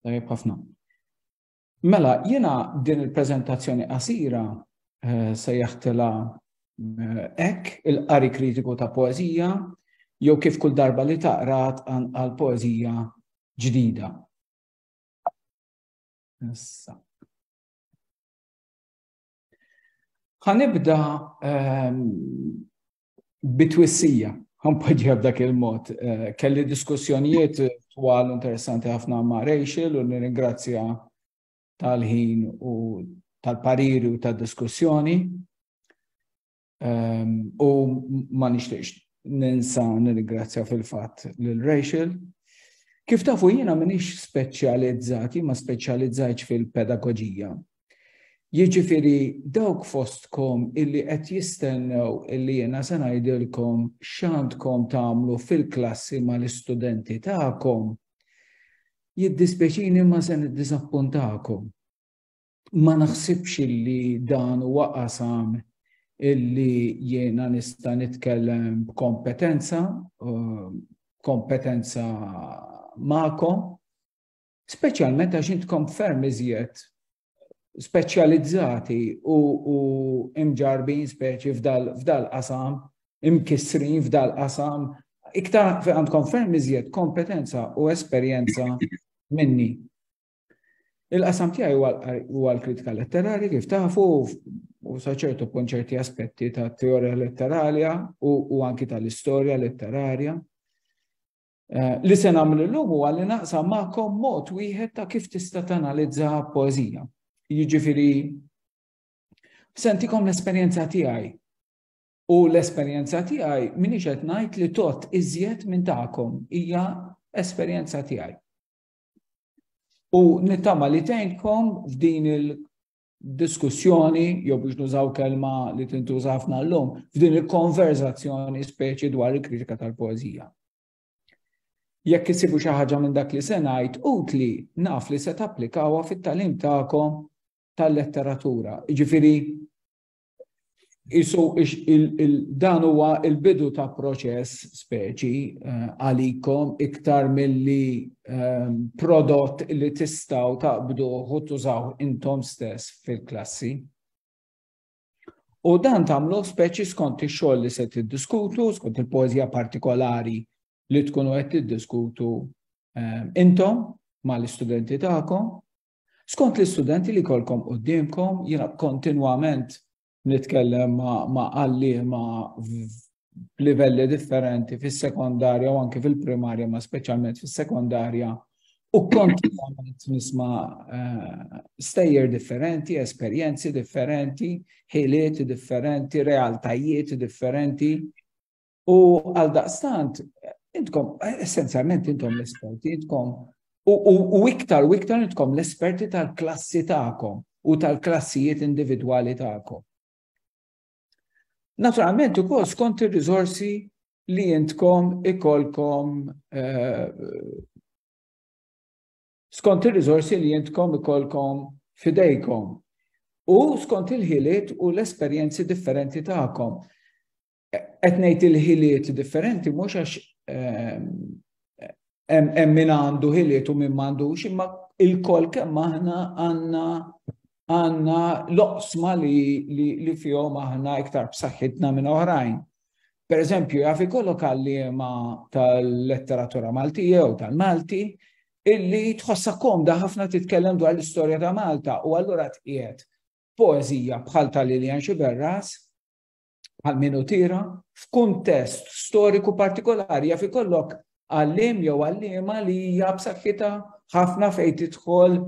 Tajjeb ħafna. Mela, jiena din il-preżentazzjoni qasira eh, se jaħtela eh, ek il-qari kritiku ta' poezija jew kif kull darba li taqrat għal poezija ġdida. Issa. Ħanibda ehm, bitwissija, għampoġġja b'dak il-mod. Eh, kelli diskussjonijiet twal interessanti ħafna ma' Rachel u nirringrazzja tal-ħin u tal-pariri u tal-diskussjoni. Ehm, u ma nixtiex ninsa nirringrazzja fil-fatt lil Rachel. Kif tafu jiena minix speċjalizzati, ma speċjalizzajċ fil-pedagogija. Jiġifieri dawk fostkom illi qed jistennew illi jiena se ngħidilkom x'għandkom tagħmlu fil-klassi mal-istudenti tagħkom, jiddispjaċini imma se niddiżappuntakom. Ma naħsibx illi dan huwa qasam illi jiena nista' nitkellem b'kompetenza, eh, kompetenza magħkom, Speċjalment għax intkom ferm iżjed speċjalizzati u, u imġarbin speċi f'dal-qasam, imkissrin f'dal-qasam, iktar għandkom ferm iżjed kompetenza u esperjenza minni. Il-qasam tiegħi huwa l-kritika letterari kif tafu u saċertu kun ċerti aspetti ta' teorija letterarja u, u anki tal-istorja letterarja. Eh, li se nagħmel illum huwa li naqsam magħkom mod wieħed ta' kif tista' tanalizza poeżija. Jiġifieri sentikom l-esperjenza tiegħi. U l-esperjenza tiegħi minix qed ngħid li tot iżjed minn tagħkom hija esperjenza tiegħi. U nittama li tgħinkom f'din il diskussjoni, jew biex nużaw kelma li tintuża ħafna llum, f'din il-konverzazzjoni speċi dwar il-kritika tal-poezija. Jekk isibu xi ħaġa minn dak li se ngħid utli naf li se tapplikawha fit-talim tagħkom tal-letteratura. Jiġifieri Isu dan huwa il-bidu ta' proċess speċi eh, għalikom iktar milli eh, prodott li tistaw taqbdu u tużaw intom stess fil-klassi. U dan tamlu speċi skont ix-xogħol li se tiddiskutu, skont il-poeżija partikolari li tkunu qed tiddiskutu eh, intom mal-istudenti tagħkom Skont l-istudenti li jkollkom quddiemkom, jiena kontinwament nitkellem ma' għalliema b'livelli differenti fis-sekondarja u anke fil-primarja, ma' speċjalment fis-sekondarja, u kontinwament nisma' eh, stejjer differenti, esperjenzi differenti, ħiliet differenti, realtajiet differenti. U għal daqstant, intkom, essenzjalment intom l-esperti, intkom, u iktar u iktar intkom l-esperti tal-klassi ta'kom u tal-klassijiet individwali ta'kom. Naturalment, u kol skont il-rizorsi li jintkom ikolkom eh, skont il-rizorsi li jintkom ikolkom fidejkom u skont il-ħiliet u l-esperjenzi differenti ta'kom. qed ngħid il-ħiliet differenti mhux għax ehm, hemm min għandu ħiliet u min m'għandux, imma il-kol kemm aħna għandna għandna loqsma li, li, li fihom aħna iktar b'saħħitna minn oħrajn. Per eżempju, jaf ikollok għalliema tal-letteratura Malti jew tal-Malti illi tħossa komda ħafna titkellem dwar l-istorja ta' Malta u allura tqiegħed poezija bħal tal-Lilian Xiberras bħal min utira, f'kuntest storiku partikolari jaf ikollok għallim jew għallima li hija b'saħħitha ħafna fejn tidħol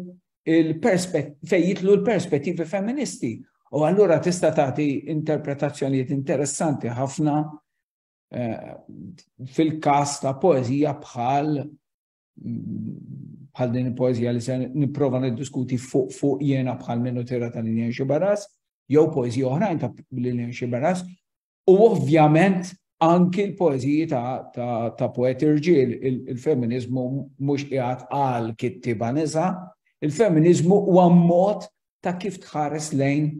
fejn jitlu l-perspettivi femministi. U allura tista' tagħti interpretazzjonijiet interessanti ħafna eh, fil-każ ta' poeżija bħal bħal din il-poezija li se nipprova niddiskuti fuq fuq jena bħal minnu tira ta' Lilian Xibaras, jew poezija oħrajn ta' Lilian Xibaras, u ovvjament anki l-poeziji ta' poeti rġil, il-feminizmu mhux qiegħed għal kittiba nisa, il-feminizmu huwa mod ta' kif tħares lejn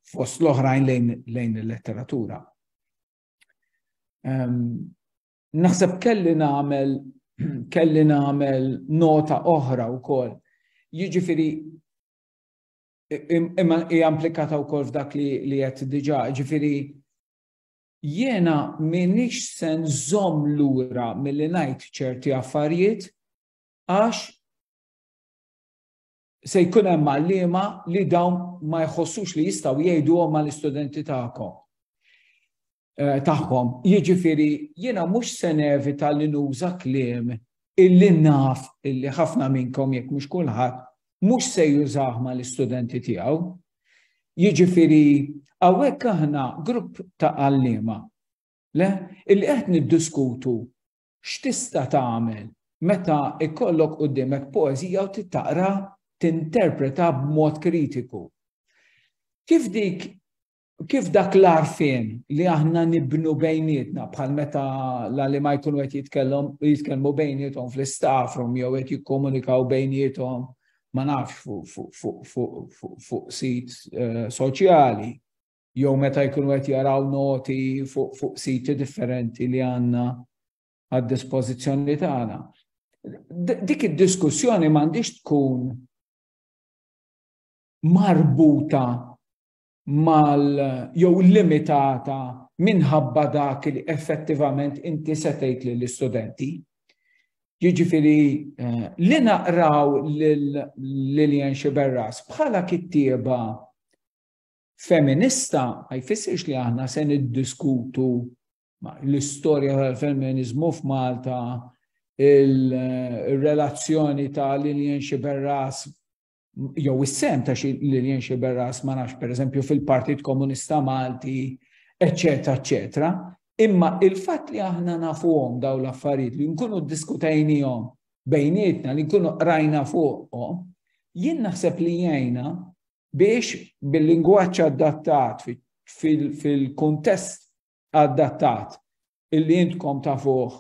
fost l-oħrajn lejn il-letteratura. Ehm, Naħseb kelli nagħmel kelli nagħmel nota oħra wkoll. Jiġifieri imma hija implikata wkoll f'dak li li qed diġà, jiġifieri jiena minix se nżomm lura milli ngħid ċerti affarijiet għax se jkun hemm għalliema li dawn ma jħossux li jistgħu jgħiduhom mal-istudenti tagħkom. eh, tagħhom. Jiġifieri jiena mhux se nevita li nuża kliem illi naf illi ħafna minnkom jekk mhux kulħadd mhux se jużah ma l-istudenti tiegħu. Jiġifieri hawnhekk aħna grupp ta' għalliema le illi qed niddiskutu x'tista' tagħmel meta ikollok qudiemek poeżija u titaqra tinterpreta b'mod kritiku. Kif dik Kif dak l-għarfien li aħna nibnu bejnietna bħal meta l ma jkunu qed jitkellhom jitkellmu bejniethom fl-istaffrum jew qed jikkomunikaw bejniethom ma nafx fuq sit eh, soċjali jew meta jkunu qed jaraw noti fuq siti differenti li għandna għad-dispożizzjoni tagħna. Dik id-diskussjoni m'għandix tkun marbuta mal jew limitata minħabba dak li effettivament inti se tgħid lill-istudenti. Jiġifieri eh, li naqraw Lilian Xiberras bħala kittieba feminista ma jfissirx li aħna se niddiskutu l-istorja tal-femminizmu f'Malta, il-relazzjoni ta' Lilian Xiberras jew is-sehem ta' xi Lillian Sciberras ma nafx pereżempju fil-Partit Komunista Malti, eċċetera, eċċetera. Imma il-fatt li aħna nafuhom dawn l-affarijiet li nkunu ddiskutejnihom bejnietna li nkunu qrajna fuqhom, jien naħseb li jgħinna biex bil-lingwaġġ adattat fil-kuntest adattat illi intkom tafuh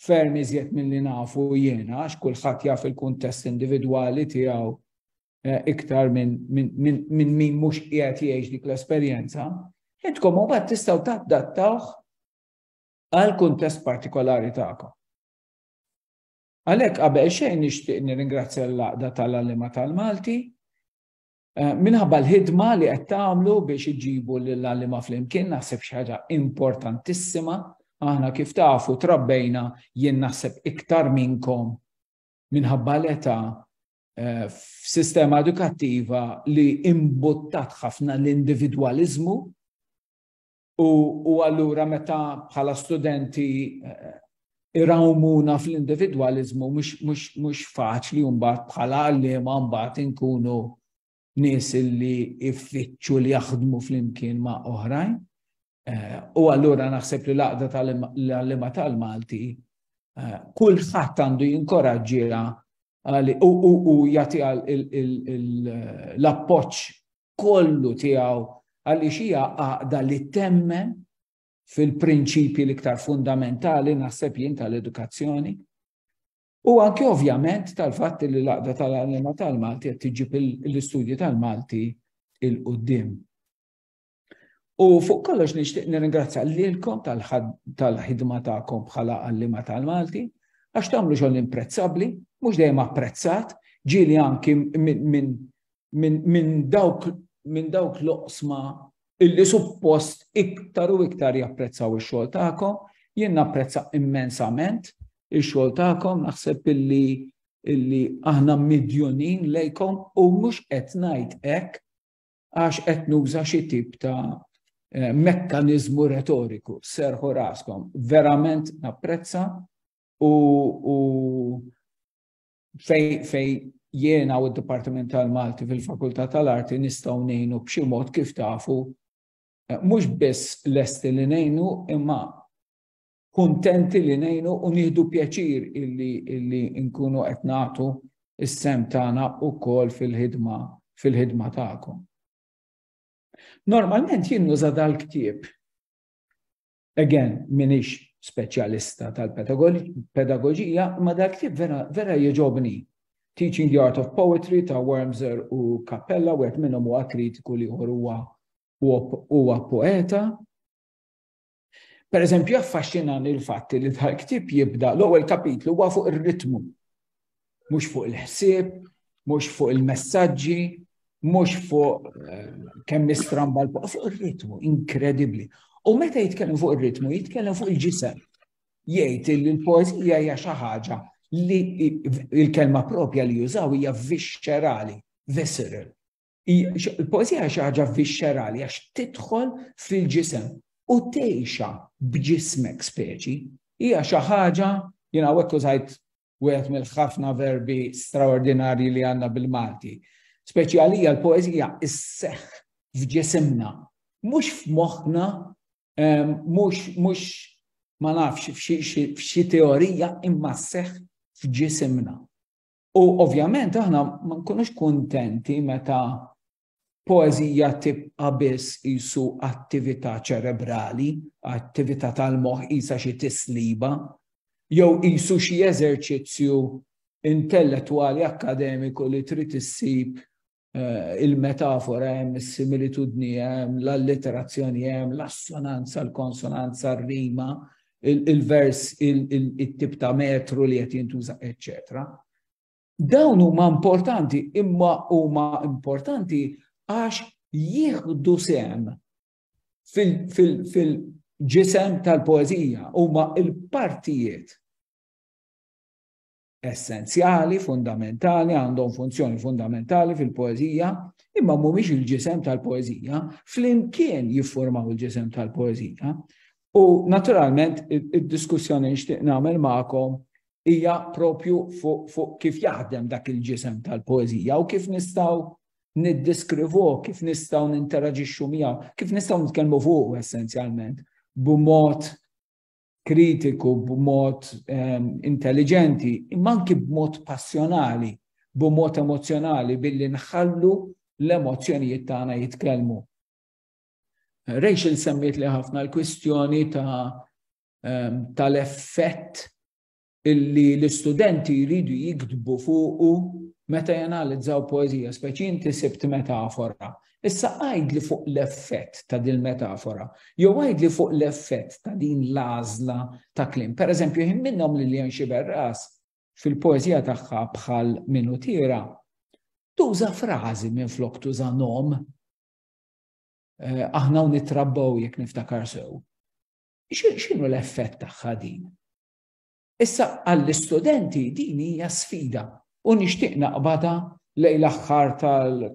ferm iżjed milli nafu jiena għax kulħadd jaf il-kuntest individwali tiegħu eh, iktar minn min, min, min, min mhux qiegħed jgħix dik l-esperjenza, intkom u bat tistaw taħdattawħ għal kuntest partikolari ta'kom. Għalek qabel xejn nixtieq nirringrazzja l-laqda tal-għalima tal-Malti Eh, minħabba l-ħidma li qed tagħmlu biex iġibu lill-għallima flimkien naħseb xi ħaġa importantissima. Aħna kif tafu trabbejna jien naħseb iktar minnkom minħabba l-età eh, f'sistema edukattiva li imbuttat ħafna l-individwaliżmu U allura meta bħala studenti eh, irawmuna fl-individualizmu mhux faċli mbagħad bħala għalliema mbagħad inkunu nies li iffittxu li jaħdmu flimkien ma' oħrajn. Eh, u allura naħseb li laqda tal-għallima tal-Malti eh, kulħadd għandu jinkoraġġiha u jagħtiha l-appoġġ kollu tiegħu għaliex hija għaqda li temmen fil-prinċipji l-iktar fundamentali naħseb jien tal-edukazzjoni. U anke ovvjament tal-fatt li l-għaqda tal-għalima tal-Malti qed tiġib l-istudji tal-Malti il-qudiem. U fuq kollox nixtieq nirringrazzja lilkom tal-ħidma tagħkom bħala għallima tal-Malti għax tagħmlu xogħol imprezzabbli, mhux dejjem apprezzat, ġieli anki minn minn dawk minn dawk l-oqsma illi suppost iktar u iktar japprezzaw ix-xogħol tagħkom. Jien napprezza immensament ix-xogħol tagħkom, naħseb illi illi aħna midjunin lejkom u mhux qed ngħid hekk għax qed nuża xi tip ta' eh, mekkanizmu retoriku, serħu raskom. Verament napprezza u, u fej fej jiena u d-Dipartiment tal-Malti fil-Fakultà tal-Arti nistgħu ngħinu b'xi mod kif tafu eh, mhux biss lesti li ngħinu imma kuntenti li ngħinu u nieħdu pjaċir illi illi nkunu qed nagħtu is-sem tagħna wkoll fil-ħidma fil-ħidma tagħkom. Normalment jien nuża dal-ktieb Again, minix speċjalista tal-pedagoġija, ma dak li vera, vera jieġobni. Teaching the Art of Poetry ta' Wormser u Cappella, u għet minnom u kritiku li huwa huwa poeta. Per eżempju, affaxxinan il-fatti li tal-ktib jibda l-ewwel kapitlu huwa fuq ir-ritmu mhux fuq il-ħsieb, mhux fuq il-messaġġi, mhux fuq eh, kemm nistramba l fuq ir-ritmu, inkredibbli. U meta jitkellem fuq ir-ritmu, jitkellem fuq il-ġisem. Jgħid li l-poezija hija xi ħaġa li il-kelma propja li jużaw hija viscerali, visceral. Il-poezija xi ħaġa viscerali għax tidħol fil-ġisem u tgħixha b'ġismek speċi hija xi ħaġa jiena hekk użajt wieħed mill-ħafna verbi straordinarji li għandna bil-Malti. Speċjalija l-poezija isseħ f'ġisimna, mhux f'moħħna, ehm, mhux mhux ma nafx f'xi teorija imma seħ f'ġisimna. U ovvjament aħna ma nkunux kuntenti meta poeżija tibqa' biss qisu attività ċerebrali, attività tal-moħħ qisha xi tisliba, jew qisu xi eżerċizzju intellettwali akkademiku li trid issib il-metafora hemm, is-similitudni hemm, l-allitterazzjoni hemm, l-assonanza, l-konsonanza, r-rima, il-vers, it-tip ta' metru li qed jintuża, eċċetera. Dawn huma importanti, imma huma importanti għax jieħdu sem fil-ġisem tal-poezija, huma il-partijiet essenzjali, fundamentali, għandhom funzjoni fundamentali fil-poezija, imma mhumiex il-ġisem tal-poezija, flimkien jiffurmaw il-ġisem tal-poezija. U naturalment id-diskussjoni nixtieq nagħmel magħkom hija propju fuq fu kif jaħdem dak il-ġisem tal-poeżija u kif nistgħu niddiskrivu, kif nistgħu ninteraġixxu miegħu, kif nistgħu nitkellmu fuq essenzjalment b'mod kritiku, b'mod ehm, intelligenti, imma anki b'mod passjonali, b'mod emozjonali billi nħallu l-emozzjonijiet tagħna jitkellmu. Rachel semmiet li ħafna l-kwistjoni ta' ehm, tal-effett illi l-istudenti jridu jiktbu fuqu meta janalizzaw poezija, speċi inti sibt metafora. Issa għajd li fuq l-effett ta' din metafora, jew għajd li fuq l-effett ta' din l-azla ta' klim. Per eżempju, jħin minnom li l-jen xiberras fil-poezija tagħha bħal minutira, tuża frażi minn flok tuża nom. Eh, aħna u nitrabbaw jekk niftakar sew. X'inhu l-effett tagħha din? Issa għall-istudenti din hija sfida u nixtieq naqbadha lejn l-aħħar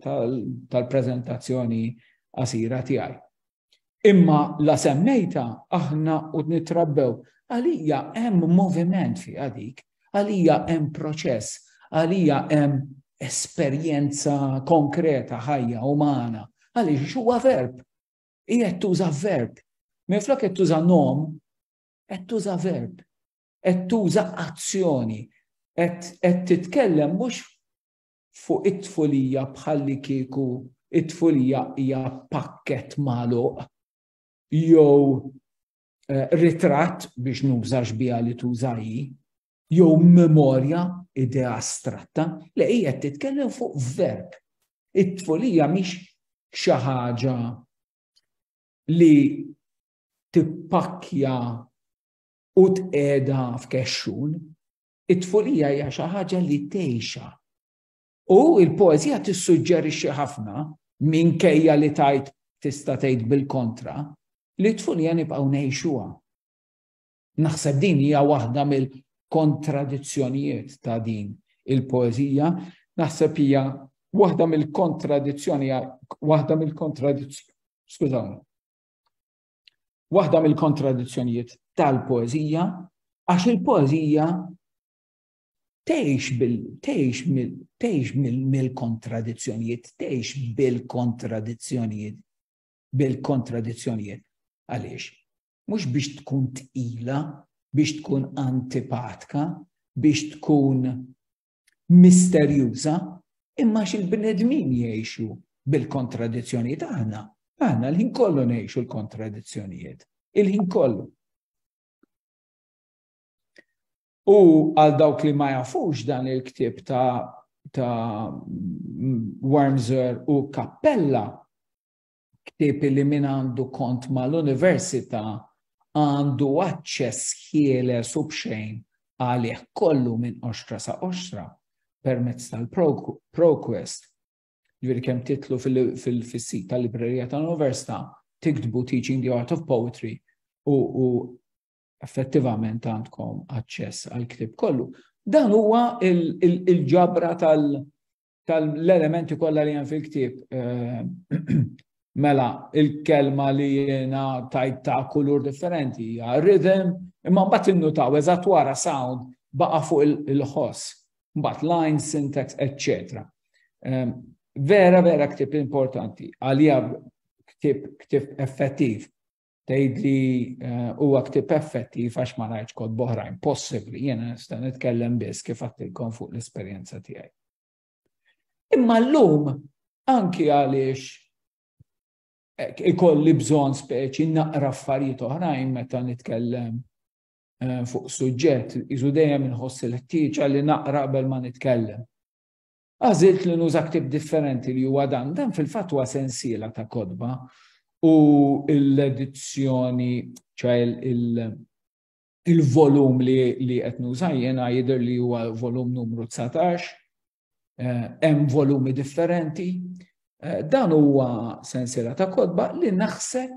tal-preżentazzjoni qasira tiegħi. Imma la semmejta aħna u nitrabbew għalija hemm moviment fi għadik, għalija hemm proċess, għalija hemm esperjenza konkreta ħajja umana, għaliex huwa verb. Hi qed tuża verb. Minflok qed tuża nom, qed tuża verb. Qed tuża azzjoni. Qed titkellem mhux fuq it-tfulija bħalli kieku it-tfulija hija pakket magħluq jew eh, ritratt biex nużax biha li tużaji. jew memorja idea astratta, li hija titkellem fuq verb. It-tfulija mhix xi ħaġa li tippakkja u tqeda f'kexxun. It-tfulija hija xi ħaġa li tgħixha. U l-poeżija tissuġġerixxi ħafna minkejja li tajt tista' tgħid bil-kontra li t-tfulija nibqgħu ngħixuha. Naħseb din hija waħda mill-kontradizzjonijiet ta' din il-poeżija, naħseb hija waħda mill-kontradizzjoni, waħda mill-kontradizzjoni, skużawni, waħda mill-kontradizzjonijiet tal-poezija, għax il-poezija tgħix bil tgħix mill-kontradizzjonijiet, tgħix bil-kontradizzjonijiet, bil-kontradizzjonijiet. Għaliex? mhux biex tkun tqila, biex tkun antipatka, biex tkun misterjuża, imma xil-bnedmin jgħixu bil-kontradizzjonijiet aħna, aħna l-ħin kollu ngħixu l-kontradizzjonijiet, il-ħin kollu. U għal dawk li ma jafux dan il-ktib ta' ta' Wormser u Kappella, ktieb li min għandu kont mal-università għandu aċċess ħieles u b'xejn għalih kollu minn oxtra sa oxtra permezz tal-ProQuest. Ġviri kem titlu fil-sit tal-librerija tal-Università, tiktbu Teaching the Art of Poetry u effettivament għandkom aċċess għal ktib kollu. Dan huwa il-ġabra tal- tal-elementi kollha li hemm fil-ktieb. Mela, il-kelma li jiena tajt ta' kulur differenti hija rhythm, imma mbagħad innutaw eżatt wara sound baqa' fuq il-ħoss, mbagħad line, syntax, etc. Vera, vera ktib importanti, għalija ktib effettiv Tgħidli huwa ktieb effettiv għax ma rajtx kod boħrajn possibbli, jiena nista' nitkellem biss kif għattilkom fuq l-esperjenza tiegħi. Imma llum anki għaliex eh, ikolli bżonn speċi naqra affarijiet oħrajn meta nitkellem eh, fuq suġġett, iżu dejjem inħoss il-ħtieġa li naqra qabel ma nitkellem. Għażilt li nuża ktieb differenti li huwa dan, dan fil-fatt huwa sensiela ta' kotba u l-edizzjoni ċaj il-volum li li qed nuża jiena jidher li huwa volum numru 19, eh, hemm volumi differenti. Eh, dan huwa sensiela ta' kotba li naħseb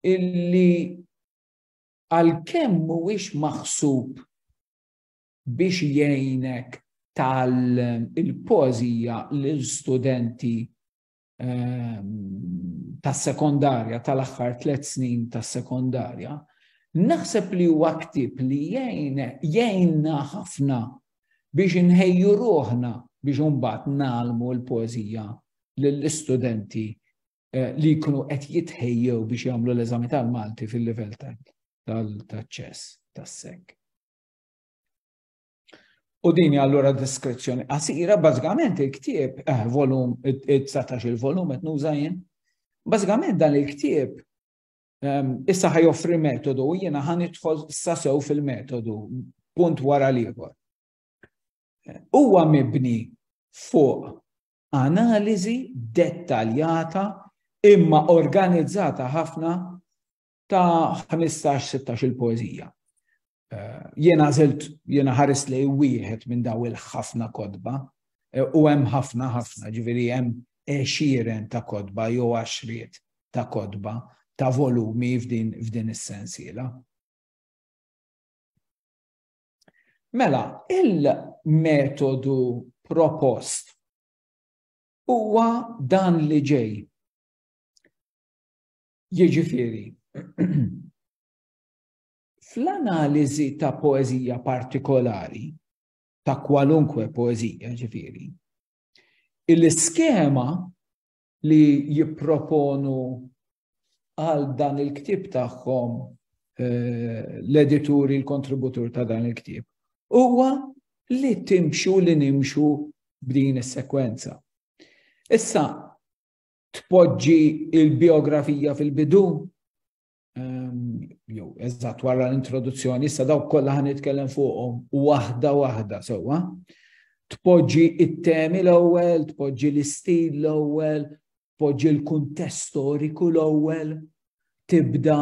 illi għal kemm mhuwiex maħsub biex jgħinek tgħallem il-poeżija lil studenti ehm, tas-sekondarja tal-aħħar tliet snin tas-sekondarja, naħseb li huwa ktib li jgħinna ħafna biex inħejju ruħna biex imbagħad nagħlmu l-poeżija lill-istudenti eh, li jkunu qed jitħejjew biex jagħmlu l-eżami tal-Malti fil-livell tal-ċess tas-sek. U din allura diskrezzjoni qasira, bażikament il-ktieb, eh, volum, 19 il-volum qed nuża jien. Bażikament dan il-ktieb ehm, issa ħaj joffri metodu u jiena ħan idħol sasew fil-metodu punt wara l-ieħor. Huwa mibni fuq analiżi dettaljata imma organizzata ħafna ta' 15-16 il-poezija. Eh, jena zilt, jena ħaris li wieħed minn daw il-ħafna kodba, eh, u hemm ħafna ħafna, ġiviri hemm eċiren ta' kodba jew għaxriet ta' kodba ta' volumi f'din, f'din is-sensiela. Mela, il-metodu propost huwa dan li ġej. Jiġifieri, fl-analiżi ta' poeżija partikolari, ta' kwalunkwe poeżija ġifieri, il-iskema li jipproponu għal dan il-ktib tagħhom eh, l-edituri, l-kontributur ta' dan il-ktib, huwa li timxu li nimxu b'din is-sekwenza. Issa, tpoġġi il-biografija fil-bidu, ehm, jew eżatt wara l-introduzzjoni, issa dawk kollha ħan nitkellem fuqhom waħda waħda sewwa. Tpoġġi it-temi l-ewwel, tpoġġi l-istil l-ewwel, tpoġġi l-kuntest storiku l-ewwel, tibda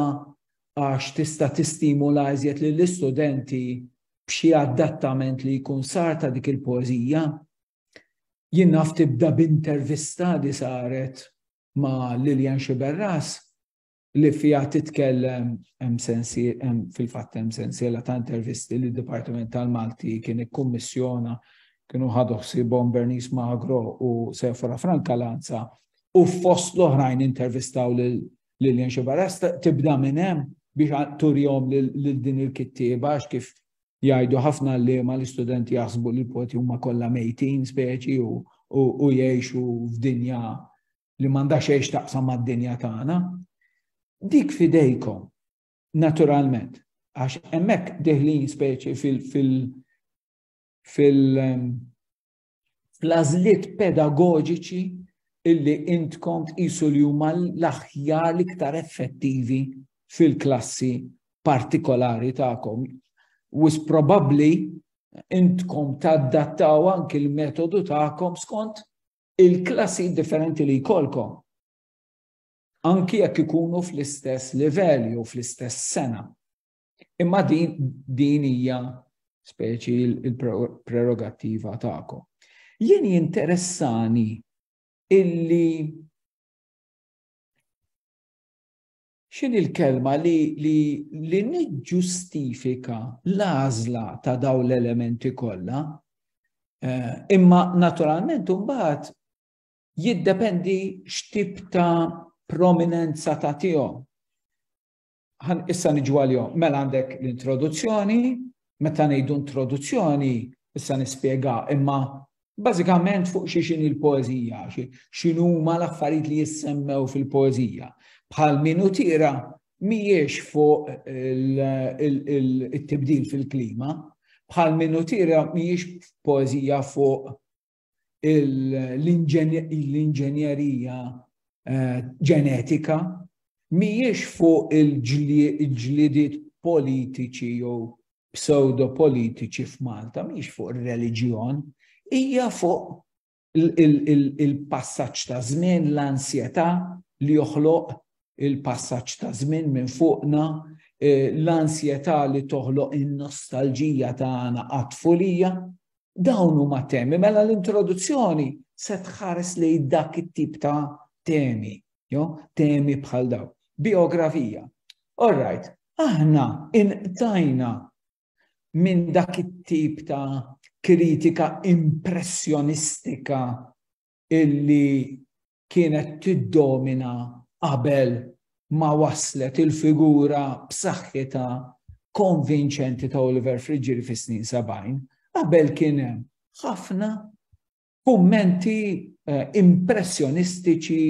għax tista' tistimula iżjed lill-istudenti b'xi adattament li jkun sar ta' dik il-poeżija Jien naf tibda b'intervista li saret ma' Lilian Xiberras li fija titkellem fil-fatt hemm sensiela ta' intervisti li d-Dipartiment tal-Malti kien ikkummissjona kienu ħadu ħsibhom Bernice Magro u Sefora Franca Lanza u fost l-oħrajn intervistaw lil Lilian Xiberras tibda minn hemm biex turjom lil din il-kittieba għax kif Jgħidu ħafna għalliema li studenti jaħsbu li l-poti huma kollha mejtin speċi u jgħixu f'dinja li m'għandha xejn taqsam mad-dinja tagħna. Dik fidejkom, naturalment, għax hemmhekk deħlin speċi fil- fil- fil- ehm, fl-għażliet pedagoġiċi illi intkom tqisu li huma l-aħjar l-iktar effettivi fil-klassi partikolari tagħkom. Wis probabbli intkom taddattaw anki l-metodu tagħkom skont il-klassi differenti li jkollkom. Anki jekk ikunu fl-istess livell jew fl-istess sena. Imma din din hija speċi il-prerogattiva tagħkom. Jien jinteressani illi xin il-kelma li, li, li niġġustifika l-għażla ta' daw l-elementi kollha, eh, imma naturalment mbagħad jiddependi x'tip ta' prominenza ta' tihom. Ħan issa niġu għalihom. Mela għandek l-introduzzjoni, meta ngħidu introduzzjoni, issa nispjega, imma bażikament fuq xi xini l-poezija, xinu ma l-affarijiet li jissemmew fil-poezija. Bħal minu tira mhijiex fuq il-tibdil fil-klima, bħal minu tira mhijiex poezija fuq l-inġenjerija eh, ġenetika mhijiex fuq il-ġlidiet politiċi jew pseudo politiċi f'Malta, mhijiex fuq ir-reliġjon, hija fuq il-passaġġ ta' żmien, l-ansjetà li joħloq il-passaġġ ta' żmien minn fuqna Eh, l-ansjetà li toħloq in-nostalġija tagħna għat-tfulija, Dawn huma temi, mela l-introduzzjoni se tħares li dak it-tip ta' temi, jo, temi bħal daw. Biografija. All right, aħna inqtajna minn dak it-tip ta' kritika impressjonistika illi kienet tiddomina qabel ma waslet il-figura b'saħħitha konvinċenti ta' Oliver Friġġieri fis-snin 70, qabel kien hemm ħafna kummenti eh, impressjonistiċi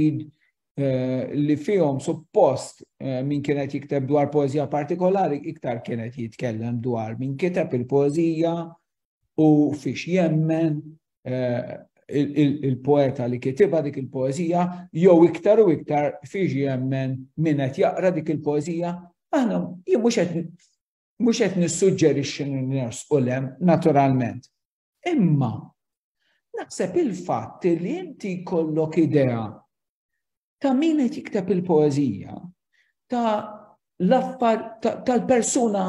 eh, li fihom suppost eh, min kienet jikteb dwar poezija partikolari iktar kienet jitkellem dwar min kiteb il-poezija u fiex jemmen il-poeta li kitiba dik il-poezija, jew iktar u iktar fiġi jemmen min qed jaqra dik il-poezija, aħna jien mhux qed mhux qed nissuġġerixxi u lem naturalment. Imma naħseb il-fatt li inti jkollok idea ta' min qed jikteb il-poeżija, ta' l-affar tal-persuna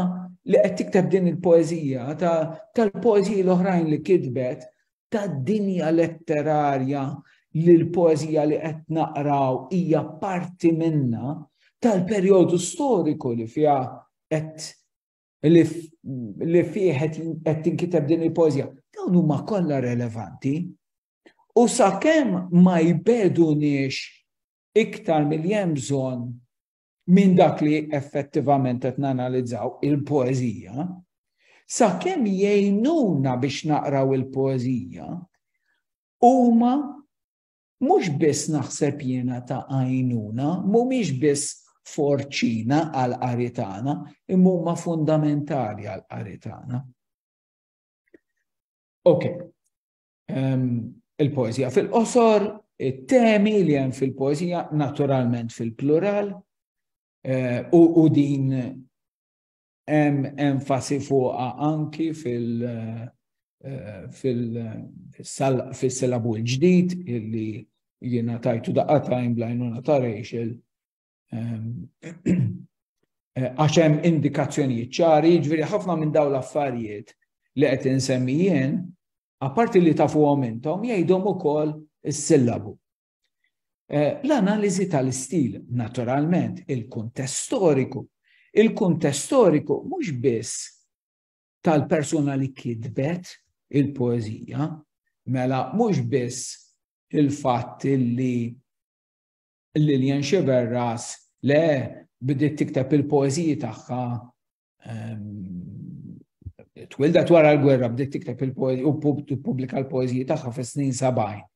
li qed tikteb din il-poeżija, tal-poeżiji l-oħrajn li kitbet, tad-dinja letterarja li l-poeżija li qed naqraw hija parti minna, tal-perjodu storiku li fiha qed li fih qed tinkiteb din il-poeżija. Dawn huma kollha relevanti U sakemm ma jbeduniex iktar milli hemm bżonn minn dak li effettivament qed nanalizzaw il-poeżija, sakemm jgħinuna biex naqraw il-poeżija, huma mhux biss naħseb jiena ta' għajnuna, mhumiex biss forċina għal qaritana, imma huma fundamentali għal qaritana. Ok, il-poezija fil-qosor, it-temi li hemm fil-poezija naturalment fil-plural eh, u din hemm enfasi fuqa anki fil- eh, fil-silabu l-ġdid illi jiena tajtu daqqa tajn blajnuna ta' Rachel Ehm, eh, għax hemm indikazzjonijiet ċari, jiġifieri ħafna minn dawn l-affarijiet li qed insemmi jien, apparti li tafuhom intom, jgħidhom ukoll is-sillabu. Eh, l-analiżi tal-istil, naturalment, il-kuntest storiku. Il-kuntest storiku mhux biss tal-persuna li kitbet il-poezija, mela mhux biss il-fatt li Lillian Xiberras, le, bidiet tikteb il-poeziji tagħha ehm, twilda wara l-gwerra bdiet tikteb il-poezija u pubblika l-poeziji tagħha fis-snin 70.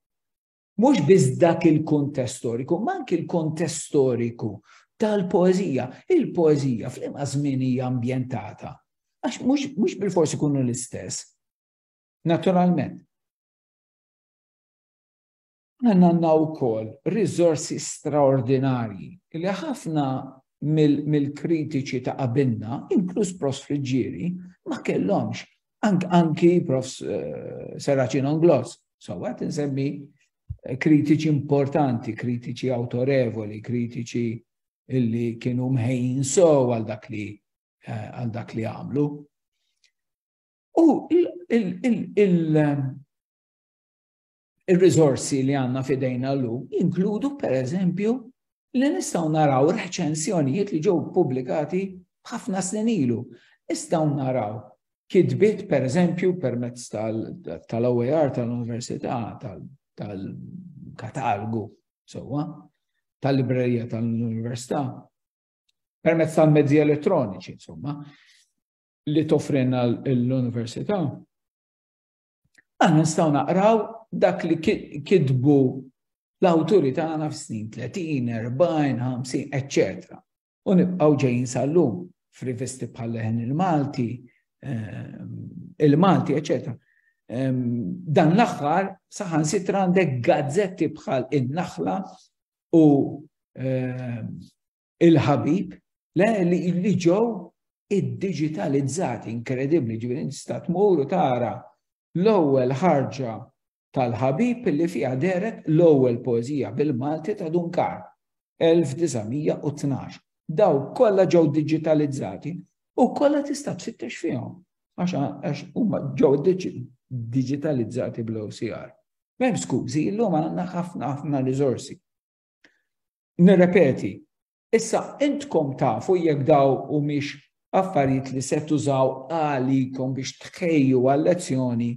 Mhux biss dak il-kuntest storiku, ma anki l-kuntest storiku tal-poezija. Il-poezija fl-imma żmien hija ambjentata. Għax mhux bil-forsi kunu l-istess. Naturalment. Aħna għandna wkoll riżorsi straordinarji li ħafna mill-kritiċi ta' qabilna, inkluż Prof. Friggieri, ma kellhomx. Anki Prof. Eh, Serracin Onglos, so għat nsemmi eh, kritiċi importanti, kritiċi autorevoli, kritiċi illi kienu mħejn so għal dak li eh, għal dak li għamlu. U il- ir-riżorsi li għandna f'idejna llum jinkludu pereżempju li nistgħu naraw reċensjonijiet li ġew pubblikati ħafna snin ilu. Nistgħu naraw kitbiet pereżempju permezz tal-OER tal-Università tal-katalgu sewwa tal-librerija tal-Università permezz tal-mezzi elettroniċi insomma li toffrina l-Università Aħna nistgħu naqraw dak li kitbu l-awturi tagħna f'snin 30, 40, 50, etc. U nibqgħu ġejjin sal-lum f'rivisti bħal leħen il-Malti, ehm, il-Malti, etc. Ehm, dan l-aħħar saħan sitra għandek gazzetti bħal in-naħla u ehm, il-ħabib, le li ġew id-digitalizzati inkredibbli ġifieri tista' tmur u tara l-ewwel ħarġa tal-ħabib li fiha deret l-ewwel poeżija bil-Malti ta' Dunkar 1912. Daw kollha ġew digitalizzati u kollha tista' tfittex fihom għax huma ġew digitalizzati bl-OCR. Mem skużi, illum għandna ħafna ħafna riżorsi. Nirrepeti, issa intkom tafu jekk daw u miex affarijiet li se tużaw għalikom biex tħejju għal-lezzjoni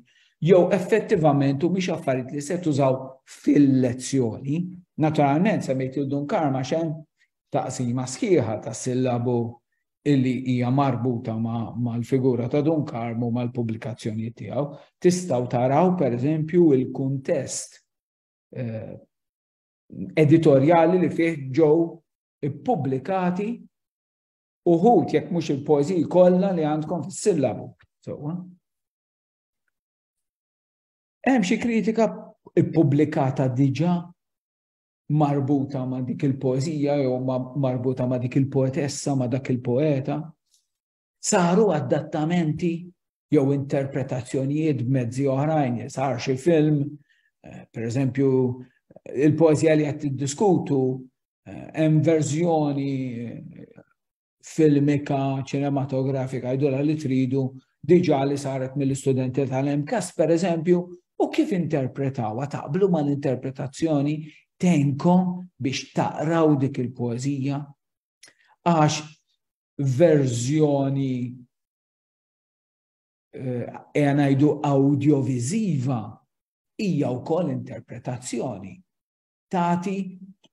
jew effettivament u miex affarijiet li se tużaw fil-lezzjoni. Naturalment, semmejt il-dun karma xem taqsima sħiħa ta' sillabu illi hija marbuta mal-figura ta' dun karmu mal-pubblikazzjoni tiegħu. Tistgħu taraw pereżempju il-kuntest eh, editorjali li fih ġew ippubblikati uħud jekk mhux il-poeżiji kollha li għandkom fis-sillabu. Sewwa. Hemm xi kritika ippubblikata diġà marbuta ma' dik il-poeżija jew marbuta ma' dik il-poetessa ma' dak il-poeta. Saru adattamenti jew interpretazzjonijiet b'mezzi oħrajn, sar xi film, eh, per eżempju, il-poezija li qed tiddiskutu eh, hemm verżjoni eh, filmika, ċinematografika, jdola li tridu diġa li saret mill-istudenti tal-MKAS, per eżempju, u kif interpretawa taqblu ma l-interpretazzjoni tenkom biex taqraw dik il-poezija. Għax verżjoni e ngħidu audiovisiva hija wkoll interpretazzjoni. Tati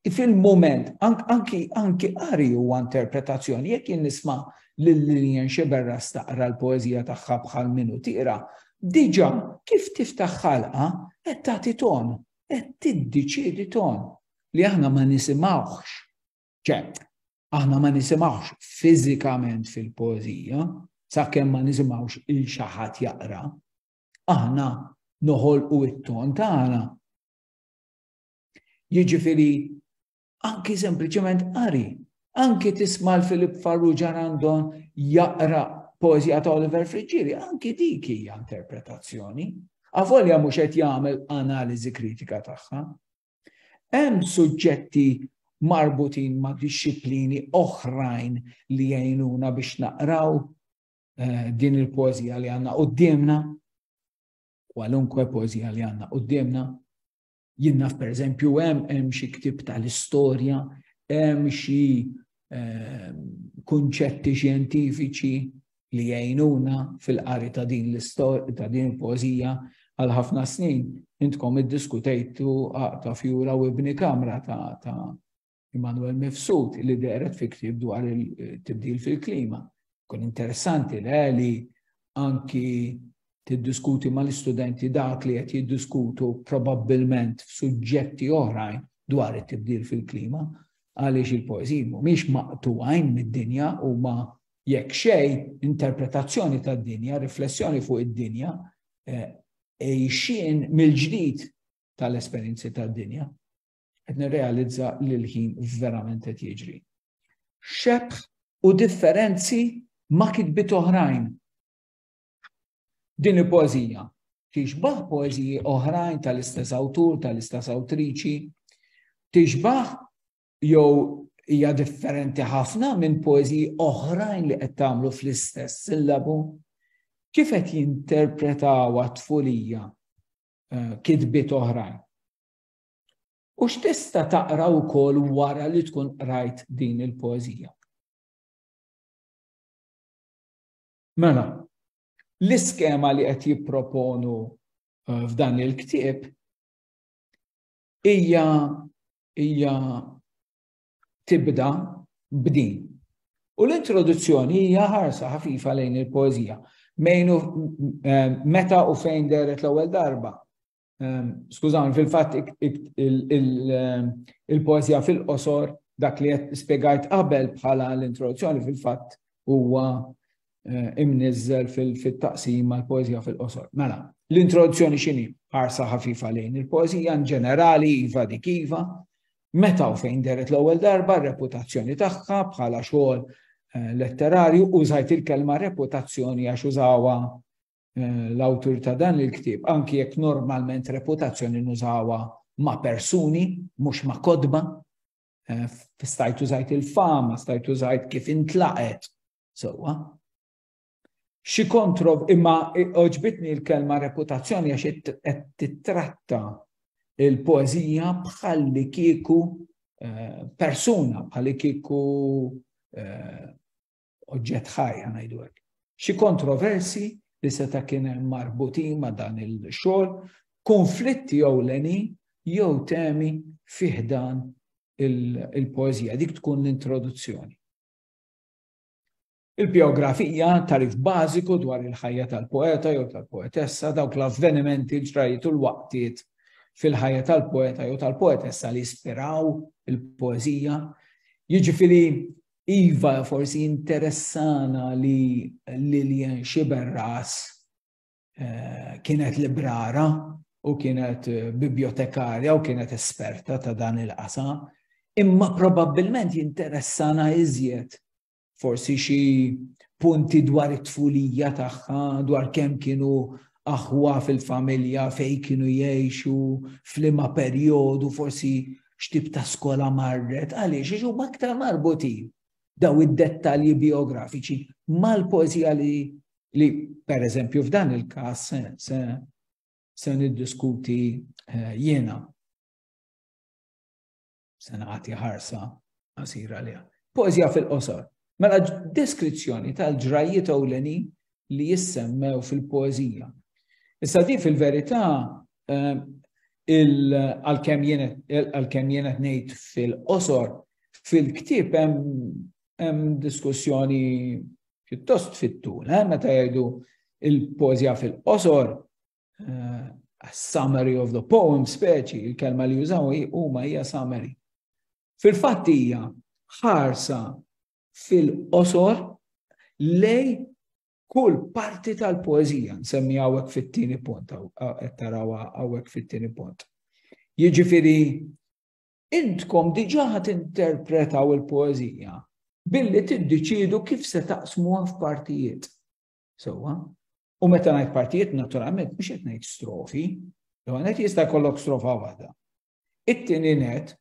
fil-moment, anki anki qari huwa interpretazzjoni, jekk jien nisma' lil Lillian Xiberra staqra l-poeżija tagħha bħal minu tira, diġà kif tiftaħ ħalqa qed tagħti ton, qed tiddiċiedi ton li aħna ma nisimgħuhx ċe, aħna ma nisimgħux fiżikament fil-poeżija, sakemm ma nisimgħux il xaħat jaqra, aħna noħolqu it-ton tagħna. Jiġifieri anki sempliċement qari, anki tisma' l-Filip Farrugia għandhom jaqra poezija ta' Oliver Friġġieri, anki dik hija interpretazzjoni. Avolja mhux qed jagħmel analiżi kritika tagħha, Hemm suġġetti marbutin ma' dixxiplini oħrajn li jgħinuna biex naqraw eh, din il-poezija li għanna qoddimna, kwalunkwe poezija li għanna qoddimna. Jinnaf per eżempju hemm hemm xi ktib tal-istorja, hemm xi eh, kunċetti xjentifiċi li jgħinuna fil-qari ta' din l-istorja ta' din il-poeżija għal ħafna snin intkom iddiskutejtu ta' fjura u ibni kamra ta' ta' Immanuel Mifsud li deret fi ktieb dwar il-tibdil fil-klima. Kun interessanti le li anki tiddiskuti mal-istudenti dak li qed jiddiskutu probabbilment f'suġġetti oħrajn dwar it-tibdil fil-klima għaliex il-poeżiji mhumiex maqtuwajn mid-dinja huma Jekk xejn, interpretazzjoni tad-dinja, riflessjoni fuq id-dinja, għejxien mill-ġdid tal-esperjenzi tad-dinja, qed nirrealizza li l-ħin verament qed jiġri. Xebħ u differenzi ma' kitbiet oħrajn. Din il-poeżija tixbaħ poeżiji oħrajn tal-istess awtur, tal-istess awtriċi, tixbaħ jew hija differenti ħafna minn poeżiji oħrajn li qed tagħmlu fl-istess sillabu? Kif qed jinterpretaw tfulija eh, kitbiet oħrajn? U x'tista' taqra wkoll wara li tkun qrajt din il-poeżija? Mela, l-iskema li qed jipproponu eh, f'dan il-ktieb Hija hija tibda b'din. U l-introduzzjoni hija ħarsa ħafifa lejn il-poeżija. Mejnu eh, meta u fejn deret l-ewwel darba. Ehm, skużawni, fil-fatt ehm, il-poeżija fil-qosor dak li qed spiegajt qabel bħala l-introduzzjoni fil-fatt huwa eh, imnizzel fil-taqsima l-poezija fil-qosor. Mela, l-introduzzjoni xini ħarsa ħafifa lejn il-poezija in ġenerali iva dik iva, meta u fejn deret l-ewwel darba reputazzjoni tagħha bħala xogħol eh, letterarju użajt il-kelma reputazzjoni għax użawa eh, l-awtur ta' dan il-ktieb, anki jekk normalment reputazzjoni nużawa ma' persuni, mhux ma' kodba, Eh, stajt użajt il-fama, stajt użajt kif intlaqet, Sewwa. Xi kontro imma oġbitni l-kelma reputazzjoni għax qed titratta il-poeżija bħal li kieku eh, persuna, bħal li kieku eh, oġġett ħajja ngħidu hekk. Xi kontroversi li seta' kien hemm marbutin ma' dan il-xogħol, konflitti jew leni jew temi fiħdan il-poeżija. Dik tkun l-introduzzjoni. Il-bijografija, tarif bażiku dwar il-ħajja tal-poeta jew tal-poetessa, dawk l-avvenimenti, l-ġrajiet u l-waqtiet fil-ħajja tal-poeta jew tal-poetessa li jispiraw il-poezija. Jiġifieri iva forsi interessana li Lillian Xiberras eh, kienet librara u kienet eh, bibliotekarja u kienet esperta ta' dan il-qasam, imma probabbilment jinteressana iżjed forsi xi punti dwar it-tfulija tagħha, dwar kemm kienu aħwa fil-familja fej kienu jgħixu, flima perjodu forsi x'tib ta' skola marret, għaliex iġu aktar marbutin daw id-dettalji biografiċi mal-poezija li li per eżempju f'dan il-każ se se niddiskuti eh, jiena se nagħti ħarsa qasira liha. Poeżja fil-qosor. Mela deskrizzjoni tal-ġrajjiet ewleni li jissemmew fil-poeżija. Issa di fil-verità eh, għal-kem jenet nejt fil-qosor, fil-ktib hemm diskussjoni pjuttost fit-tul, eh, meta jgħidu il-poezija fil-qosor, eh, a summary of the poem speċi, il-kelma li jużaw huma hija summary. Fil-fatt hija ħarsa fil-qosor lej kull parti tal-poezija, nsemmi għawek fit-tieni punt, tarawa għawek fit-tieni punt. Jiġifieri Intkom diġà ħa tinterpretaw il-poeżija billi tiddeċiedu kif se taqsmuha f'partijiet. Sewwa? U meta ngħid partijiet naturalment mhux qed ngħid strofi, jew għanet jista' jkollok strofa waħda. It-tieni net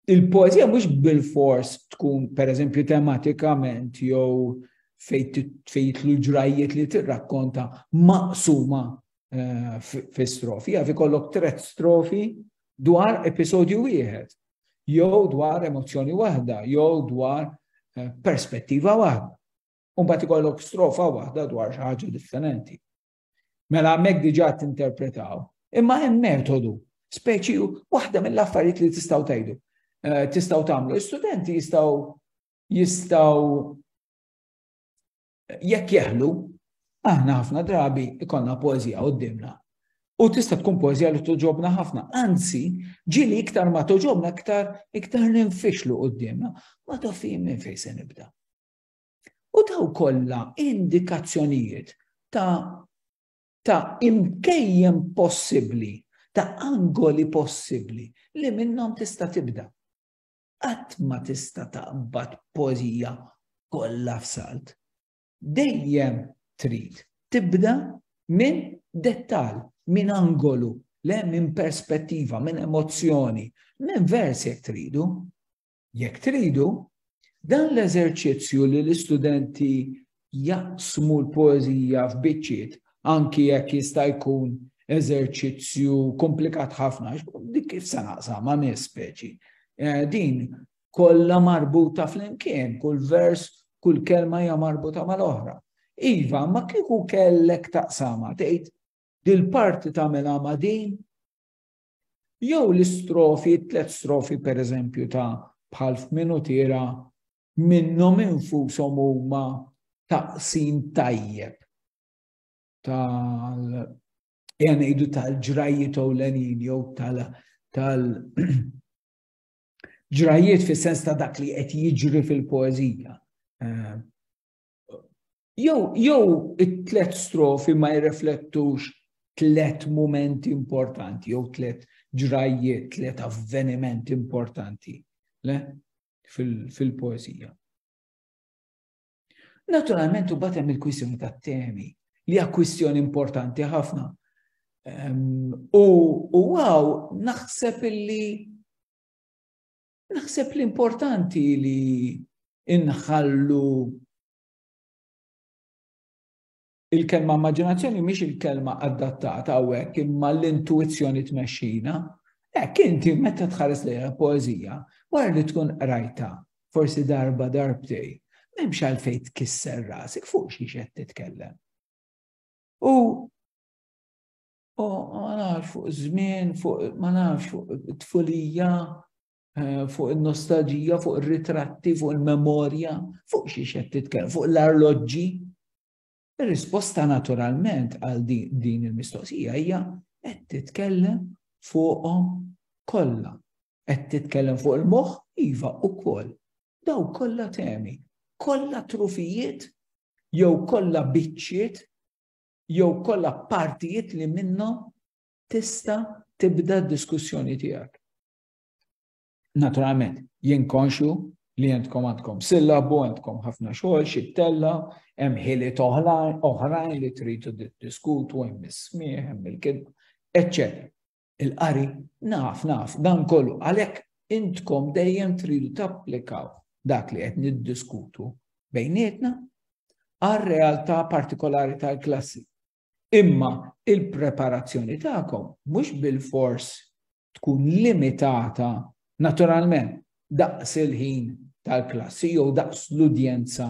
il-poezija mhux bil-fors tkun pereżempju tematikament jew fejt l-ġrajiet li tirrakkonta maqsuma eh, fi strofi, għafi kollok tret strofi dwar episodju wieħed, jew dwar emozzjoni waħda, jew dwar eh, perspettiva waħda. Umbat ikollok strofa waħda dwar xi ħaġa differenti. Mela hemmhekk diġà tinterpretaw. Imma hemm metodu, speċi waħda mill-affarijiet li tistgħu tgħidu. Eh, tistgħu tagħmlu. Istudenti jistgħu jistgħu jekk jeħlu, aħna ħafna drabi ikonna poezija qoddimna. U tista' tkun poezija li toġobna ħafna. Anzi, ġili iktar ma toġobna iktar iktar ninfixlu qoddimna. Ma tafim minn fejn se nibda. U daw kollha indikazzjonijiet ta' ta' imkejjem possibbli, ta' angoli possibbli li minnhom tista' tibda. Qatt ma tista' taqbad pożija kollha f'salt. Dejjem trid tibda minn dettal, minn angolu, le minn perspettiva, minn emozzjoni, minn vers jekk tridu. Jekk tridu, dan l-eżerċizzju li l-istudenti jaqsmu l-poeżija f'biċċiet anki jekk jista' jkun eżerċizzju komplikat ħafna, dik kif se naqsam ma' nies speċi. Eh, din kollha marbuta flimkien, kull vers, kull kelma hija marbuta mal-oħra. Iva, ma kieku kellek taqsama tgħid dil-parti tagħmilha ma' din, Jew l-istrofi, tliet strofi per eżempju ta' bħal f'minutira minnhom infushom huma taqsim tajjeb tal jgħanidu tal-ġrajiet ewlenin jew tal-ġrajiet fis-sens ta' dak li qed jiġri fil-poeżija. Eh, Jew jew it-tlet strofi ma jirreflettux tlet momenti importanti, jew tlet ġrajjiet, tlet avvenimenti importanti le? fil-poezija. Fil Naturalment, u batem il-kwissjoni ta' temi, li hija kwistjoni importanti ħafna. Um, u għaw, naħseb illi Naħseb li importanti li inħallu il-kelma immaġinazzjoni mhix il-kelma adattata hawnhekk imma l-intuizzjoni tmexxina. Hekk inti meta tħares lejha poeżija, wara li tkun qrajta, forsi darba darbtej, m'hemmx għalfejn tkisser rasek fuq xi qed titkellem. U U ma nafx fuq żmien, fuq ma nafx fuq it-tfulija, eh, fuq il-nostalġija, fuq il-ritratti, fuq il-memorja, fuq xiex qed titkellem, fuq l-arloġġi. Ir-risposta naturalment għal din il-mistoqsija hija qed titkellem fuqhom kollha. Qed titkellem fuq il-moħħ iva ukoll. Daw kollha temi, kollha trufijiet jew kollha biċċiet jew kollha partijiet li minnhom tista' tibda d-diskussjoni tiegħek. Naturalment, jien konxu li jentkom għandkom sillabu, għandkom ħafna xogħol, xi tella, hemm ħili oħrajn li tridu diskutu, hemm is-smieħ, hemm il-kidba, eċċetera. il-qari, naf, naf, dan kollu, għalhekk intkom dejjem tridu tapplikaw dak li qed niddiskutu bejnietna għal realtà partikolari tal-klassi. Imma il-preparazzjoni tagħkom mhux bil-fors tkun limitata naturalment daqs il-ħin tal-klassi jew daqs l-udjenza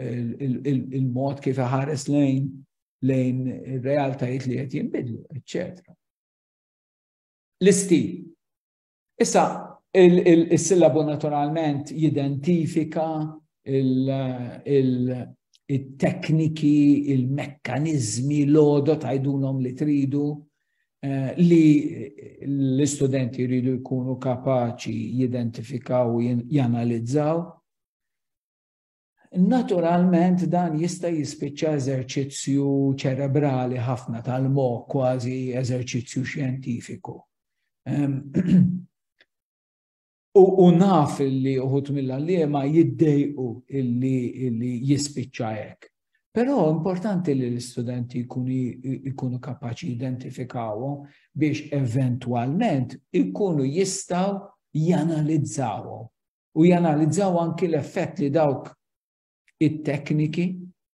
il-mod kif iħares lejn lejn ir-realtajiet li qed jinbidlu, eċċetera. L-istil. Issa, il-sillabu naturalment jidentifika il-tekniki, il-mekkanizmi, l-odo tajdulom li tridu eh, li l-istudenti jridu jkunu kapaċi jidentifikaw u janalizzaw Naturalment dan jista' jispiċċa eżerċizzju ċerebrali ħafna tal-mok kważi eżerċizzju xjentifiku. U naf li uħut mill-għallima jiddejqu illi jispiċċa hekk. Però importanti li l-istudenti jkunu kapaċi identifikawhom biex eventwalment ikunu jistaw janalizzawhom u janalizzaw anki l-effett li dawk it-tekniki,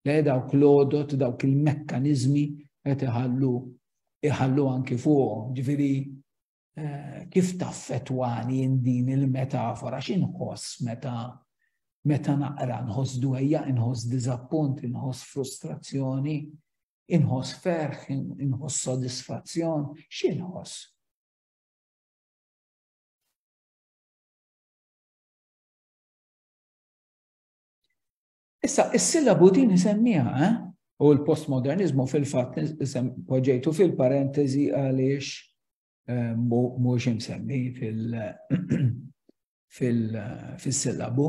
li dawk l-odot, dawk il-mekkanizmi qed iħallu iħallu anki fuqhom, ġifieri eh, kif taffetwani in din il-metafora x'inħoss meta meta naqra nħoss dwejja, inħoss diżappunt, inħoss frustrazzjoni, inħoss ferħ, inħoss sodisfazzjon, x'inħoss? Issa, is-sillabu din isemmiha, eh? u l-postmodernizmu fil-fatt poġġejtu fil-parentesi għaliex eh, mhux imsemmi fil-sillabu,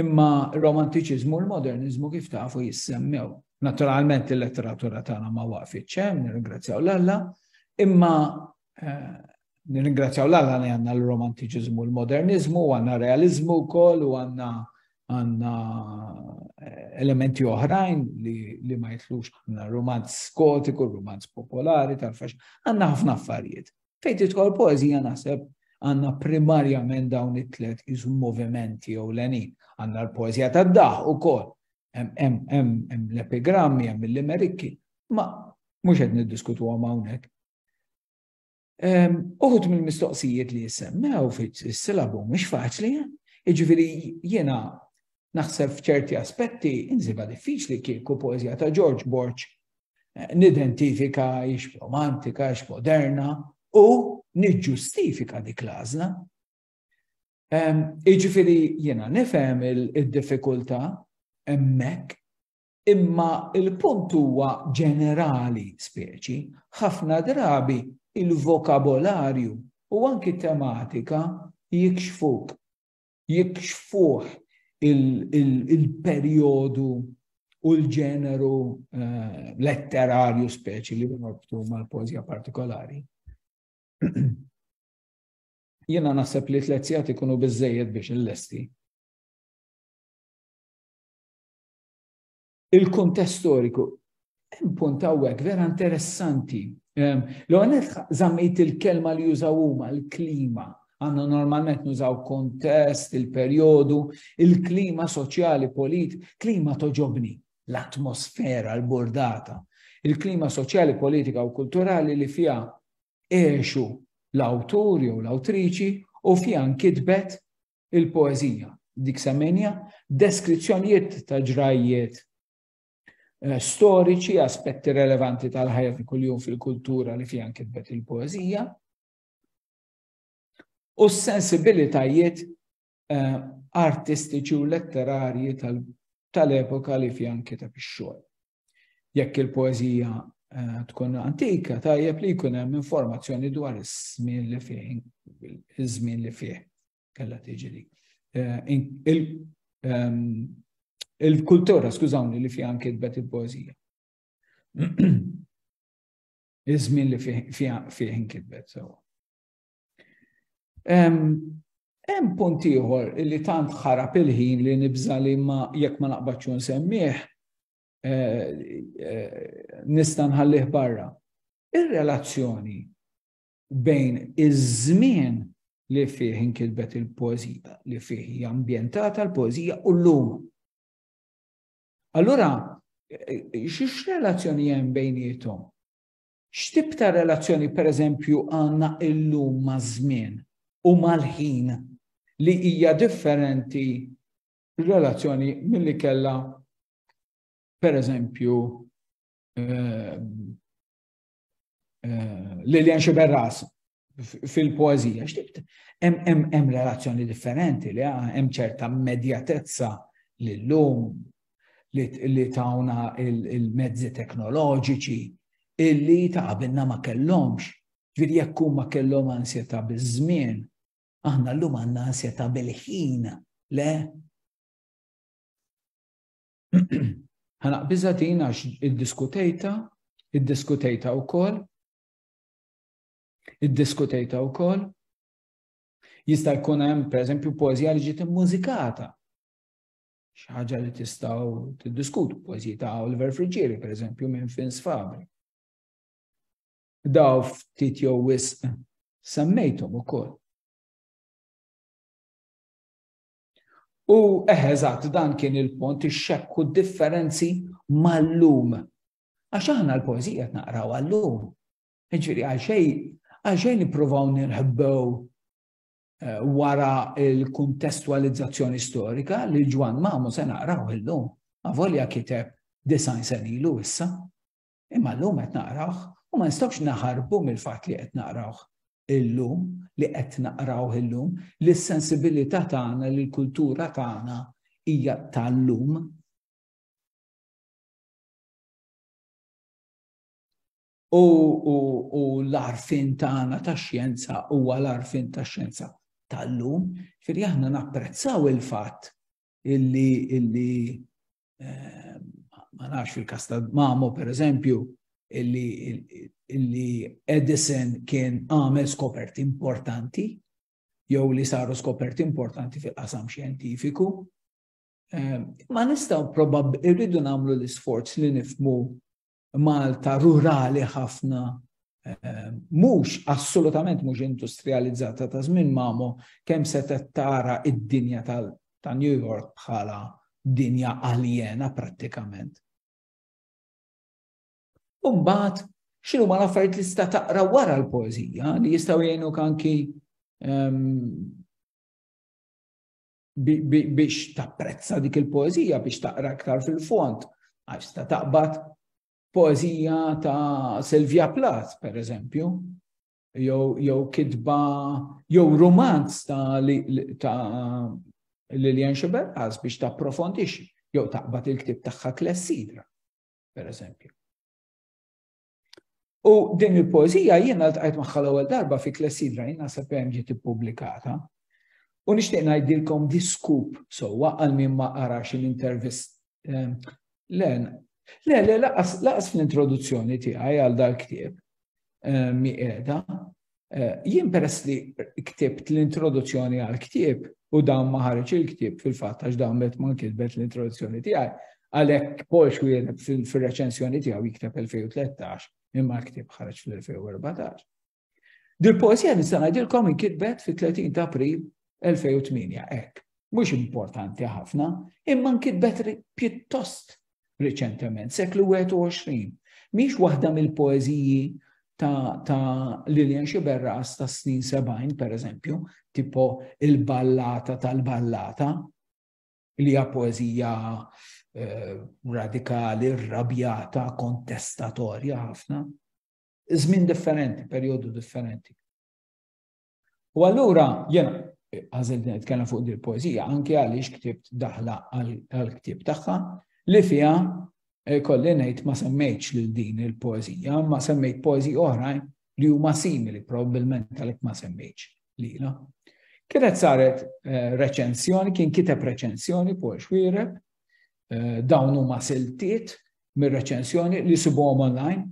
imma romantiċiżmu u l-modernizmu kif tafu jissemmew. Naturalment il-letteratura tagħna ma waqfitx hemm, nirringrazzjaw l-Alla, imma Nirringrazzjaw l-Alla li għanna l-romantiċizmu, l-modernizmu, għanna realizmu kol, u għanna għanna eh, elementi oħrajn li, li ma jitlux għanna romanz skotiku, romanz popolari, tal-fax, għanna ħafna affarijiet. Fejt itkol poezija naħseb għanna primarjament dawn it-tlet iżum movimenti jew l-għanin. Għanna l-poezija tad daħ u kol, hemm l-epigrammi, hemm l-limerikki, ma mux għed niddiskutu għamawnek Uħut mill-mistoqsijiet li jissemmew fis-silabu mhux faċli, jiġifieri jiena naħseb f'ċerti aspetti inżiba diffiċli kieku poezija ta' George Borg eh, nidentifika ix romantika, ix moderna u niġġustifika dik l-għażla. Iġifieri jiena nifhem id-diffikultà hemmhekk Imma il-punt huwa ġenerali speċi, ħafna drabi il-vokabolarju u anki tematika jikxfuk, jikxfuh il-perjodu u l-ġeneru eh, letterarju speċi li norbtu mal-poezija partikolari. Jena naħseb li t-lezzjat ikunu bizzejed biex il-lesti. il-kuntest storiku. Hemm punt hawnhekk vera interessanti. Ehm, L-għonet zammejt il-kelma li jużaw huma l-klima. Għanna normalment nużaw kontest, il-perjodu, il-klima soċjali, polit, klima toġobni, l-atmosfera, l-bordata, il-klima soċjali, politika u kulturali li fija eħxu l-awtur jew l-awtriċi u fija nkitbet il-poeżija, dik semmejnija, deskrizzjonijiet ta' ġrajjiet eh, storiċi, aspetti relevanti tal-ħajja ta' kuljum fil-kultura li fiha kitbet il-poeżija, u s-sensibilitajiet eh, artistiċi u letterarji tal-epoka li fiha kiteb ix-xogħol. Jekk il-poeżija eh, tkun antika, tajjeb li jkun hemm informazzjoni dwar iż-żmien li fih, iż-żmien li fih kellha tiġri. Eh, ehm, il-kultura, skużawni, li fih anke tbet il-poeżija. Iż-żmien li fih inkitbet sewa. Hemm punt ieħor li tant ħarab il-ħin li nibża li ma jekk ma naqbadx nsemmih eh, eh, nista' nħallih barra. Ir-relazzjoni bejn iż-żmien li fih inkilbet il-poezija, li fih hija ambjentata l-poezija u l-lum. Allura, eh, xiex relazzjoni hemm bejnietom? X'tip ta' relazzjoni, pereżempju, għandna llum maż-żmien u mal-ħin li hija differenti r-relazzjoni milli kellha, pereżempju, Lilian Sciberras fil-poezija. Hemm relazzjoni differenti li hemm ċerta medjatezza li l-lum li tawna il-mezzi teknoloġiċi illi ta' għabinna ma kellhomx. Ġviri jekk ma kellhom ansjeta biż-żmien, aħna llum għandna ansjeta bil-ħin, le? Ħanaq biżatina għax id-diskutejta, id-diskutejta wkoll Iddiskutejta wkoll. Jista' jkun hemm pereżempju poeżija li ġiet immużikata. Xi ħaġa li tistgħu tiddiskutu poeżiji ta' Oliver Friġieri pereżempju minn Fins Fabri. Daw ftit jew wisq semmejthom ukoll. U eħeżat dan kien il-pont ix-xekku differenzi mal-lum. Għax aħna l-poezija qed naqraw għal-lum. Ġifieri għalxejn għalxejn nippruvaw nirħbew eh, wara l-kuntestualizzazzjoni storika li Ġwan Mamu se naqraw illum, avolja kiteb design sen ilu issa. Imma l-lum qed naqrawh u ma nistgħux naħarbu mill-fatt li qed naqrawh illum, li qed naqrawh illum, li s-sensibilità tagħna, li l-kultura tagħna hija tal-lum. U l-għarfien tagħna tax-xjenza huwa l-għarfien tax-xjenza tal-lum, firri aħna napprezzaw il-fatt illi illi eh, ma nafx fil-kas ta' Mamo per eżempju illi illi Edison kien għamel skoperti importanti jew li saru skoperti importanti fil-qasam xjentifiku. Eh, ma nistaw probabb irridu namlu l-isforz li nifmu Malta rurali ħafna, eh, mhux assolutament mhux industrializzata ta' żmien mamu kemm se tara id-dinja ta' New York bħala dinja aljena prattikament. Umbat, xinu ma l-affarijiet li sta taqra wara l-poezija li jistaw jgħinu kanki ehm, biex tapprezza dik il-poezija, biex taqra iktar fil-fond, għax ta' taqbad poezija ta' Silvia Plath, per eżempju, jew kitba, jew romanz ta' Lilian Xiberqas biex ta' profondix, jew taqbad il-ktib tagħha Klessidra, per eżempju. U din il-poezija jiena ltqajt magħha l-ewwel darba fi Klessidra jiena sa hemm ġiet ippubblikata. U nixtieq ngħidilkom diskup sewwa għal min ma qarax l-intervist. Ehm, le, le, le, laqas fl-introduzzjoni tiegħi għal dal-ktieb ehm, mi qiegħda. Eh, jien peress li ktibt l-introduzzjoni għal ktib u dan ma ħareġ il-ktib fil-fatt għax dan bet ma kitbet l-introduzzjoni tiegħi, għalhekk Paul Xwier fil-reċensjoni tiegħu jikteb 2013 imma l-ktib ħareġ fil-2014. Dil poesija nista' ngħidilkom inkitbet fit-30 ta' April 2008 hekk. Mhux importanti ħafna, imma nkitbet pjuttost riċentement, seklu 21. Mhix waħda mill-poeżiji ta', ta Lilian Xiberras ta' snin 70, per eżempju, tipo il-ballata tal-ballata, li hija poeżija eh, radikali, rabjata, kontestatorja ħafna. Żmien differenti, perjodu differenti. U allura jena għażilt nitkellem fuq dil poezija anke għaliex ktibt daħla għall-ktieb tagħha li fiha eh, kolli ngħid ma semmejtx lil din il poezija ma semmejt poezija oħrajn li huma simili probabbilment għalhekk ma semmejtx lila. Kienet saret eh, reċensjoni, kien kiteb reċensjoni Paul Xwireb, eh, dawn huma siltiet mir-reċensjoni li sibuhom online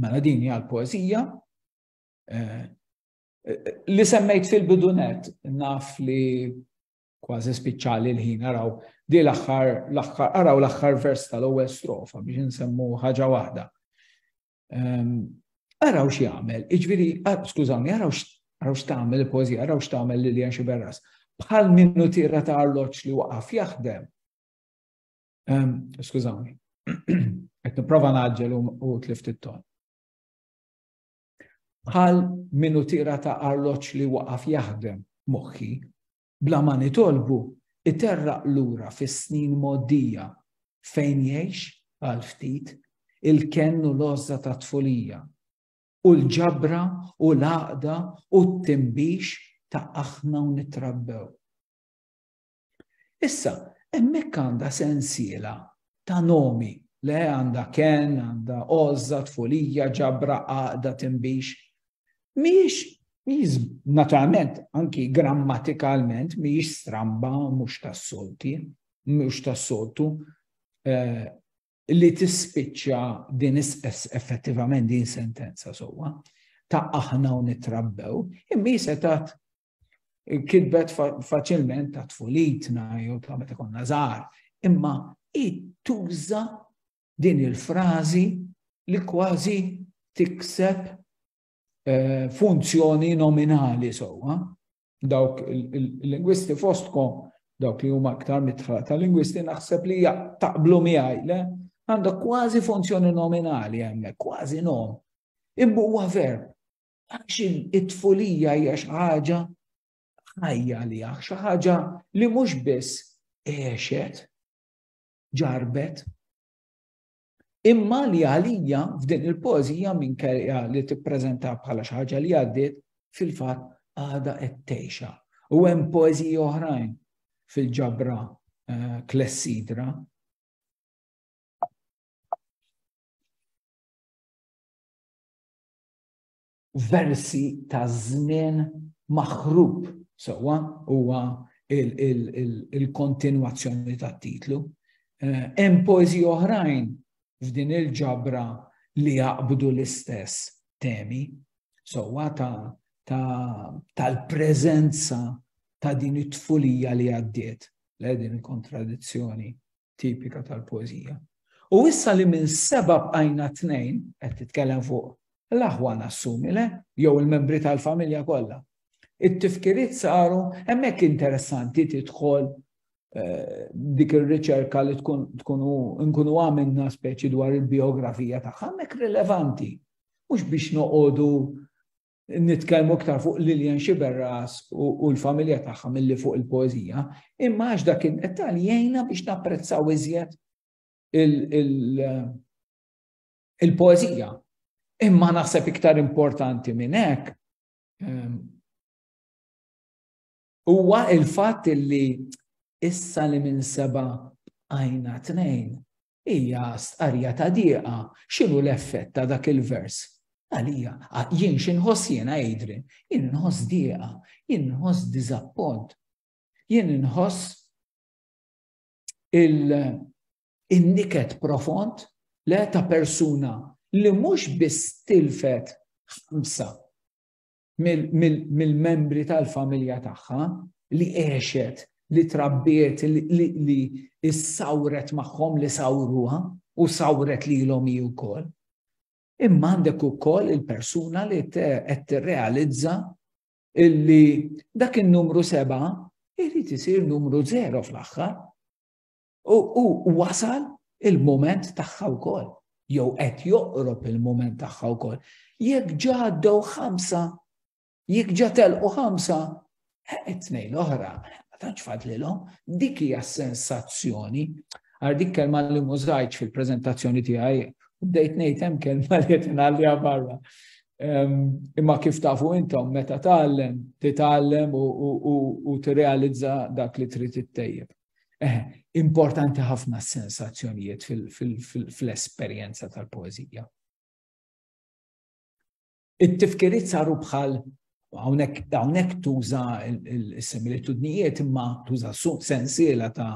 Mela din hija l-poeżija eh, li semmejt fil-bidunet naf li kważi spiċċali l-ħin araw di l-aħħar l-aħħar araw l-aħħar vers tal-ewwel strofa biex insemmu ħaġa waħda. Ehm, araw xi jagħmel, iġviri, ah, skużawni, araw araw x'tagħmel il-poeżija, araw x'tagħmel Lilian xi berras. Bħal minnu tira ta' arloġġ li waqaf jaħdem. Skużawni, qed nipprova naġġel u tlift it-ton. Bħal minu tira ta' arloġġ li waqaf jaħdem moħħi, bla ma nitolbu iterraq lura fis-snin moddija fejn jgħix għal ftit il-kennu l-ozza ta' tfulija u l-ġabra u l-għaqda u t-timbix ta' aħna u nitrabbew. Issa, hemmhekk għandha sensiela ta' nomi le għandha ken, għandha ożza, tfulija, ġabra, għaqda, timbix. Mhijiex mhijiex naturalment anki grammatikalment mhijiex stramba mhux tas-solti, mhux tas-soltu eh, li tispiċċa din effettivament din sentenza sewwa ta' aħna u nitrabbew, imma jisetat Kitbet faċilment ta' tfulitna jew ta' meta konna żgħar, imma tuża din il-frażi li kważi tikseb eh, funzjoni nominali sewwa. Dawk il-lingwisti fostkom, dawk li huma aktar mitħla ta' lingwisti naħseb li taqblu miegħi le għandha kważi funzjoni nominali hemmhekk, kważi nom. Imma huwa verb. Għax it-tfulija hija xi ħaġa ħajja li għax xi ħaġa li mhux biss għexet, ġarbet, imma li għalija f'din il-pożija minn kelja li tippreżenta bħala xi ħaġa li għaddiet fil-fatt għada qed tgħixha. U hemm pożi oħrajn fil-ġabra eh, klessidra versi ta' żmien maħrub sewwa huwa il-kontinwazzjoni tat-titlu. Eh, hemm poeżi oħrajn f'din il-ġabra li jaqbdu l-istess temi sewwa tal-preżenza ta' din it-tfulija li għaddiet le din il-kontradizzjoni tipika tal-poeżija. U issa li minn seba' bqajna tnejn, qed titkellem fuq l-aħwa nassumi le, jew il-membri tal-familja kollha. It-tifkiriet saru hemmhekk interessanti tidħol eh, dik ir-riċerka li tkun tkunu nkunu għamilna speċi dwar il-biografija tagħha hemmhekk rilevanti. Mhux biex noqogħdu nitkellmu iktar fuq Lilian Xiberras u l-familja tagħha milli fuq il-poezija, imma għax dak id-dettal jgħinna biex napprezzaw iżjed il-poezija. Imma naħseb iktar importanti minn hekk ehm, huwa il-fatt li issa li minn seba għajna tnejn Hija stqarrija ta' dieqa, x'inhu l-effett ta' dak il-vers? Għalija, jien x'inħoss jiena Adrian? Jien inħoss dieqa, jien inħoss diżappont, jien inħoss il-niket profond le ta' persuna li mhux biss tilfet ħamsa mill-membri tal-familja tagħha li għexet, li trabbiet, li s-sawret magħhom li sawruha u sawret li l-om ju kol. Imma għandek u kol il-persuna li qed tirrealizza illi dak il-numru seba' irrit isir numru zero fl-axħar. U wasal il-moment tagħha wkoll, jew qed joqrob il-moment tagħha wkoll. Jekk ġa għaddew ħamsa, jekk ġa telqu ħamsa, eh, it-tnejn l-oħra, ma tantx fadlilhom, dik hija sensazzjoni. Għar dik kelma li mużajċ fil-preżentazzjoni tiegħi, u bdejt ngħid hemm kelma li qed ngħalliha barra. Imma kif tafu intom meta tgħallem, titgħallem u tirrealizza dak li trid ittejjeb. Eh, importanti ħafna s-sensazzjonijiet fil-esperjenza tal-poezija. It-tifkiriet saru bħal hawnhekk tuża s-similitudnijiet imma tuża sensiela ta'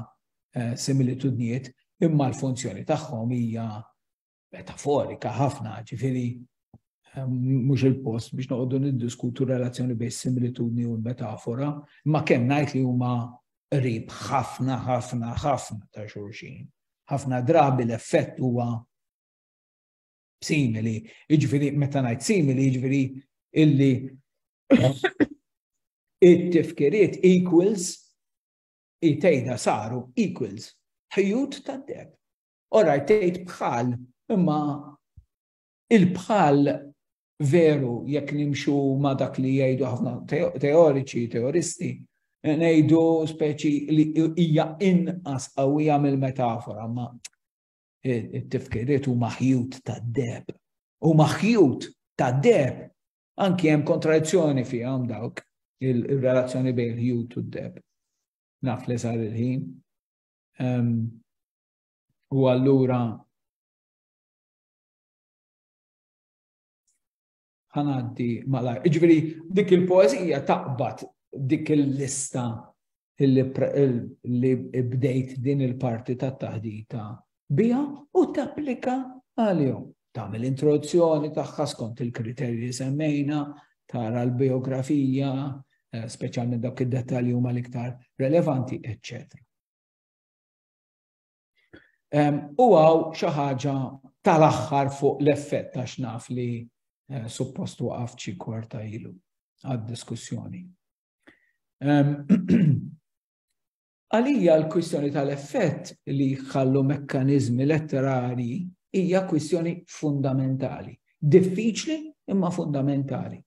eh, similitudnijiet imma l-funzjoni tagħhom hija metaforika ħafna, ġifiri ehm, mhux il-post biex noqogħdu niddiskutu relazzjoni bejn similitudni u l-metafora, ma kemm ngħid li huma qrib ħafna ħafna ħafna ta' xulxin. Ħafna drabi l-effett huwa simili, jiġifieri meta ngħid simili jiġifieri illi it-tifkiriet equals it-tejda saru equals ħjut tad-deb. Oraj, tgħid bħal, imma il-bħal veru jekk nimxu ma dak li jgħidu ħafna teoriċi, teoristi, ngħidu speċi li hija inqas qawwija mill-metafora, ma it-tifkiriet huma ħjut tad-deb. Huma ħjut tad-deb. Anki hemm kontradizzjoni fihom dawk il-relazzjoni bejn il-ħjut u d-deb. Naf li sar il-ħin. U allura ħanaddi malaj. Iġveri, dik il-poezija taqbad dik il-lista li bdejt din il-parti ta' taħdita bija u tapplika għal-jom. tagħmel introduzzjoni tagħha skont il-kriterji li semmejna, tara l-biografija, eh, speċjalment dawk id-dettalji huma l-iktar relevanti, etc. U għaw xi ħaġa tal-aħħar fuq l-effett ta' xnaf li eh, suppost waqaf ċi kwarta ilu għad-diskussjoni. Għalija l-kwistjoni tal-effett li jħallu mekkaniżmi letterarji hija kwistjoni fundamentali. Diffiċli imma fundamentali.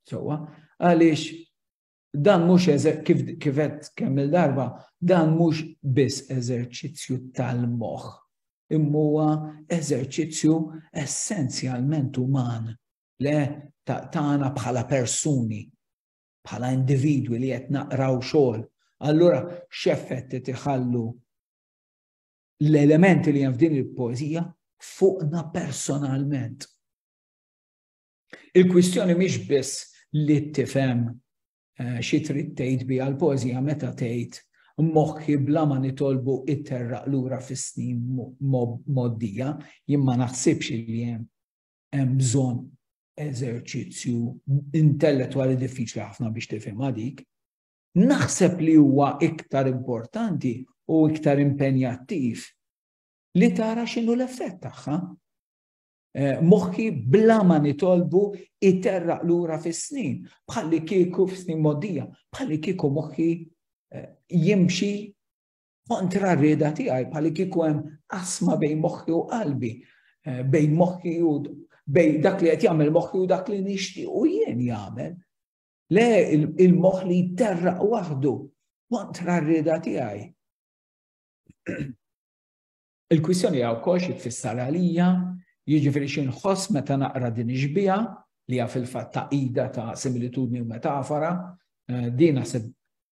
Sowa, għaliex dan mhux kif kifet kemm il-darba, dan mhux biss eżerċizzju tal-moħħ, imma eżerċizzju essenzjalment uman le tagħna bħala persuni bħala individwi li qed naqraw xogħol, allura x'effett qed iħallu l-elementi li hemm f'din il-poeżija fuqna personalment. Il-kwistjoni mhix biss li tifhem eh, xi trid tgħid biha l-poeżija meta tgħid moħħi bla ma nitolbu itterraq lura fis-snin moddija, jien ma naħsibx li hemm hemm bżonn eżerċizzju intellettwali diffiċli ħafna biex tifhimha dik. Naħseb li huwa iktar importanti u iktar impenjattiv li tara x'inhu l-effett tagħha. Eh, moħħi bla ma nitolbu iterraq lura fis-snin, bħalli kieku fis-snin modija, bħalli kieku moħħi eh, jimxi kontra r-rieda tiegħi bħal kieku hemm asma bejn moħħi u qalbi, eh, bejn moħħi u bejn dak li qed jagħmel moħħi u dak li nixtieq u jien jagħmel. Le il-moħħ li jterraq waħdu kontra r-rieda tiegħi. Il-kwistjoni għaw kox jitfissar għalija, jiġifieri xi nħoss meta naqra din iġbija li għaf il-fatt ta' ida ta' similitudni u metafora, eh, din naħseb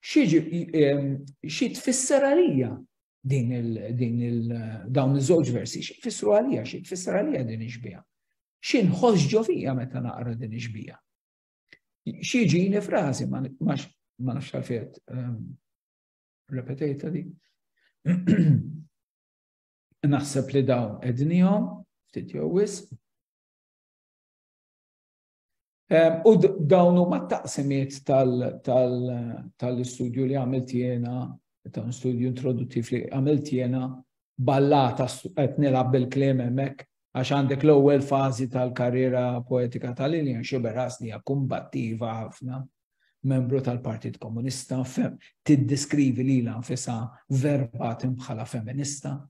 xi tfisser għalija din il din il dawn iż-żewġ versi, xi tfissru għalija, xi tfisser għalija din iġbija. Xi nħoss ġo fija meta naqra din iġbija. Xi ġini frażi ma nafx għalfejn ehm, repetejta di. Naħseb li dawn ednihom ftit jew wisq U dawn huma taqsimiet tal-istudju li għamilt jiena, ta' studju introduttiv li għamilt jiena, ballata qed nilgħab bil-kliem hemmhekk għax għandek l-ewwel fażi tal-karriera poetika tal-Lilian Xiberas li hija kumbattiva ħafna membru tal-Partit Komunista, fem, tiddeskrivi li l nfisa verbatim bħala feminista.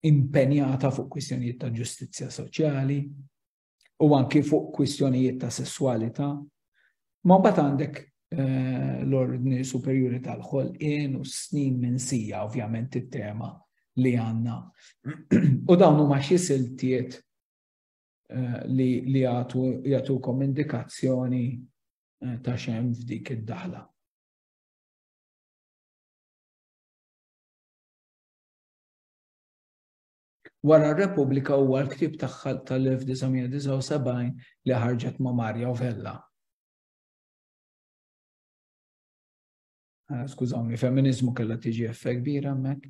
impenjata fuq kwistjonijiet ta' ġustizzja soċjali u anki fuq kwistjonijiet ta' sessualità. Ma mbagħad għandek eh, l-ordni superjuri tal-ħolqien u snin minn sija ovvjament it-tema li għanna. u dawn huma xi siltiet eh, li li jagħtukom indikazzjoni eh, ta' xem f'dik id-daħla. Wara r-Repubblika huwa l-ktieb tagħha tal-1979 li ħarġet ma' Marja u Vella. Ah, skużawni, femminizmu kellha tiġi effekt kbira hemmhekk.